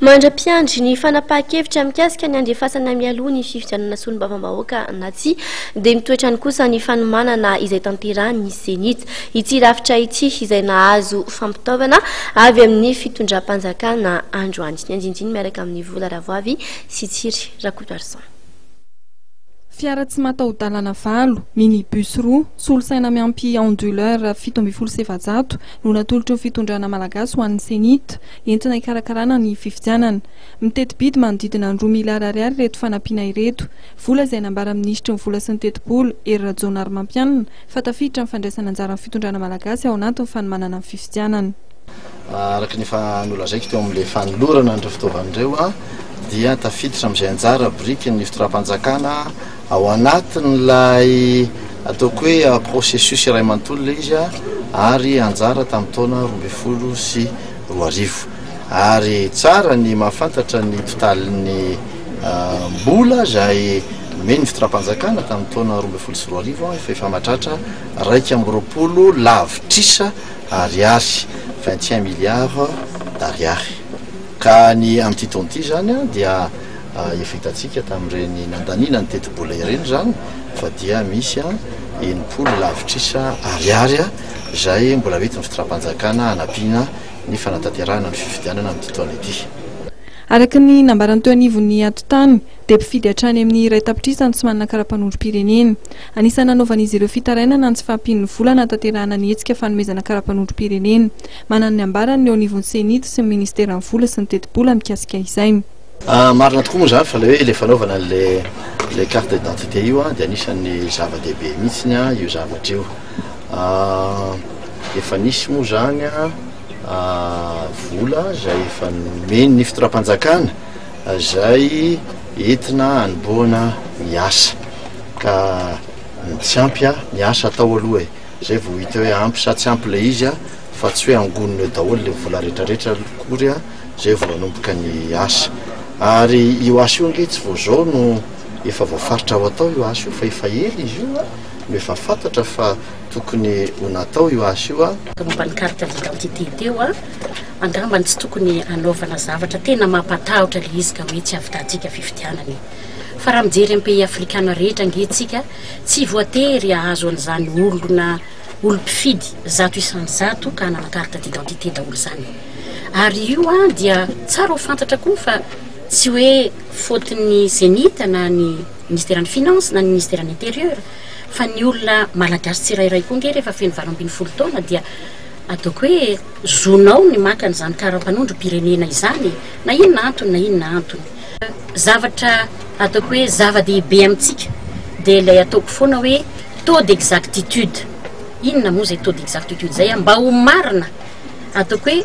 Mandra-piandry ny fanapahan-kevitra mikasika ny handefasana mialoha ny fifidianana solombavambahoaka na tsia, dia ny toetrany kosa ny fanomanana izay tanterahin'ny Cenit ity rafitra ity izay nahazo fampitaovana avy amin'ny fitondram-panjakana androany. Ny andinindiny miaraka amin'i Vola Ravoavy sy Tsiry Rakotoarison. Fiara tsy mataho-dalana valo, minibus roa, solosaina miampy onduleur fito ambin'ny folo sy efajato no natolotry ny fitondrana malagasy ho an'ny Cenit. entina hikarakarana ny fifidianana. Miteti-bidy manodidina ny roa miliara ariary ireto fanampiana ireto, vola izay nambaran'ny minisitry ny Vola sy ny tetibola, Hery Rajaonarimampianina, fa tafiditra ny fandraisana anjaran'ny fitondrana malagasy ao anatin'ny fanomanana ny fifidianana. Araka ny efa nolazaiko teo amin'ilay fanolorana an'ireo fitaovana ireo dia tafiditra amin'izay anjara biriky ny fitondram-panjakana, Ao anatin'ilay ataoko hoe processus iray manontolo ilay izy ary anjara tamin'ny taona roa ambin'ny folo sy roa arivo. Ary tsara ny mahafantatra ny mpitalin'ny mbola izay nomen'ny fitondram-panjakana tamin'ny taona roa ambin'ny folo sy roa arivo fa efa mahatratra iraika amby roapolo lavitrisa ariary, vingt et un milliards d'ariary. Ka ny amin'ity taona ity izany dia. Efa hitantsika tamin'ireny nandaniana ny tetibola ireny izany fa dia misy enimpolo lavitrisa ariary izay mbola hoentin'ny fitondram-panjakana hanampiana ny fanatanterahana ny fifidianana amin'ity taona ity. Araka ny nambarany teo anivon'ny atotany dia mpifidy hatrany amin'ny iray tapitrisa no tsy manana karapanondrom-pirenena. Anisan'ny nanaovan'izy ireo fitarainana ny tsy fahampian'ny vola hanatanterahana ny hetsika fanomezana karapanondrom-pirenena. Manana ny ambarany ny eo anivon'ny Ceni sy ny ministeran'ny vola sy ny tetibola mikasika izay. Ah, marina tokoa moa izany fa ilay hoe ilay fanaovana an'ilay ilay carte d'identité io an, dia anisan'ny zava-dehibe mihitsiny an, io zavatra io. Ah, efa nisy moa izany an, ah, vola izay efa nomen'ny fitondram-panjakana izay entina hanombohana ny asa. Ka ny tsy ampy an, ny asa atao aloha e. Izay vao hita hoe ampy sa tsy ampy ilay izy an, fa tsy hoe angonina eo daholo ilay vola rehetrarehetra akory an. izay vao nanomboka ny asa. Ary io asa io ange tsy vao izao no efa voafaritra ho atao io asa io fa efa ela izy io no efa fantatra fa tokony ho natao io asa io a. momba ny carte d'identité teo a, angamba ny tsy tokony hanaovana zavatra tena mampatahotra ilay izy ka hoe tsy havitantsika fifidianana e. Fa raha mijery amin'ny pays afrikana rehetra ange tsika, tsy voatery hahazo an'izany olona olom-pifidy zato isan'ny zato ka hanana carte d'identité daholo izany. Ary io dia tsara ho fantatra koa fa tsy hoe faute ny Zenith na ny Ministeran'ny Finances na ny Ministeran'ny Intérieur fa ny olona Malagasy tsirairay koa ange rehefa feno valo ambin'ny folo taona dia ataoko hoe zonao ny maka an'izany karapanondrom-pirenena izany e! na inona antony na inona antony. Zavatra ataoko hoe zava-dehibe amintsika dia ilay ataoko foana hoe taux d'exactitude, inona moa izay taux d'exactitude izay an? mba ho marina ataoko hoe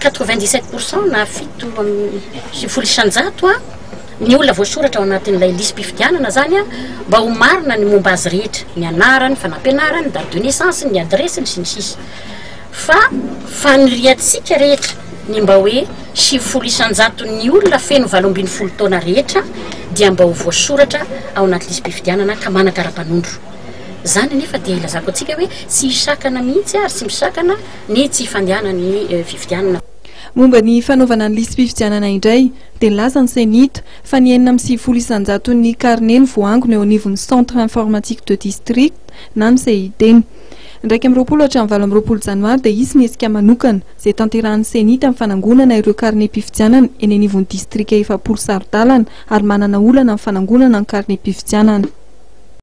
quatre-vingt-dix-sept pour cent na fito amby sivifolo isan-jato an, ny olona voasoratra ao anatin'ilay lisi-pifidianana zany an, mba ho marina ny momba azy rehetra, ny anarany, fanampianarany, ny date de naissance-ny, ny adiresiny sy ny sisa fa faniriantsika rehetra ny mba hoe sivifolo isan-jaton'ny olona feno valo ambin'ny folo taona rehetra dia mba ho voasoratra ao anaty lisi-pifidianana ka manakara-panondro. Izany anefa dia ilazako antsika hoe tsy hisakana mihitsy ary tsy misakana ny tsy fandehanan'ny fifidianana. Momba ny fanaovana ny lisi-pifidianana indray dia nilaza ny Ceni t fa ny enina amby sivifolo isan-jaton'ny karne no voaangona eo anivon'ny Centre Informatique de District na ny CID. Ny iraika amby roapolo hatramin'ny valo amby roapolo janoary dia hisy ny hetsika manokana izay tanterahan'ny Ceni t amin'ny fanangonana ireo karnem-pifidianana eny anivon'ny distrika efapolo saro-dalana ary manana olana amin'ny fanangonana ny karnem-pifidianana